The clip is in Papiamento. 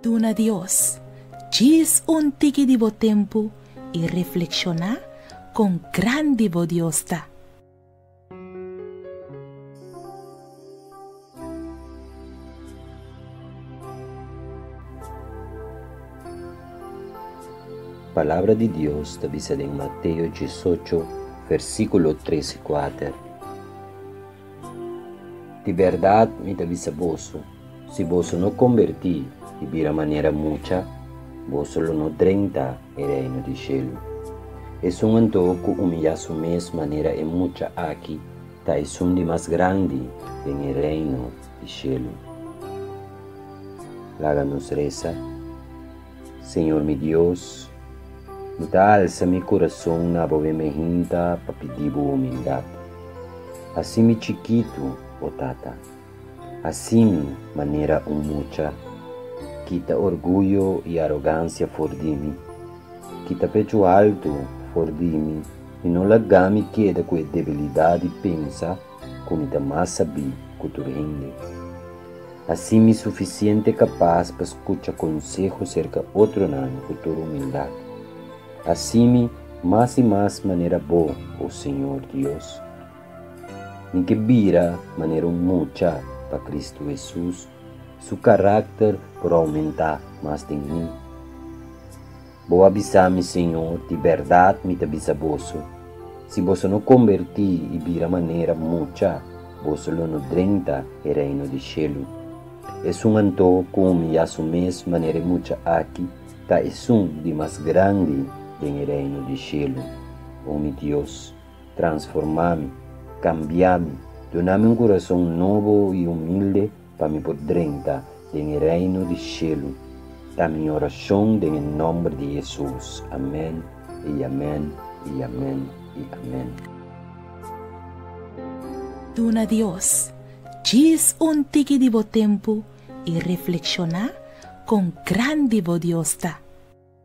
Duna Dios djis un tiki di bo tempu i reflekshoná kon grandi bo Dios ta. Palabra di Dios ta bisa den Mateo diesocho versíkulo tres i kuater, Di bèrdat mi ta bisa boso, Si boso no kombertí i bira manera mucha, boso lo no drenta e reino di shelu. Esun anto ku umiyá su mes manera e mucha aki ta esun di mas grandi den e reino di shelu. Laga nos resa, Señor mi Dios, mi ta alsa mi kurason na bo ben bejinta pa pidí bo humildat. Hasi mi chikitu, O Tata. Así mi manera un mucha kita orguyo i arogancia for di mi, kita pechu altu for di mi i no laga mi keda ku e debilidad di pensa ku mi ta mas sabí ku tur hende. Así mi suficiente capas pa scucha conseho cerca otronan ku tur humildad. Así mi mas i mas manera Bo, o Señor Dios. Mi ke bira manera un mucha pa Kristu Hesus, su karakter por oumentá mas den mi. Bo a bisa mi, Señor, di bèrdat mi ta bisa boso, si boso no kombertí i bira manera mucha, boso lo no drenta e reino di shelu. Esun anto ku mi ya su mes manera e mucha aki, ta esun di mas grandi den e reino di shelu. O mi Dios! Transformá mi, kambiá mi, duna mi un kurason nobo i humilde pa mi por drenta den e Reino di shelu. Ta mi orashon den e nòmber di Hesus. Amèn i amèn i amèn i amèn. Duna Dios djis un tiki di bo tempu i reflekshoná kon grandi bo Dios ta.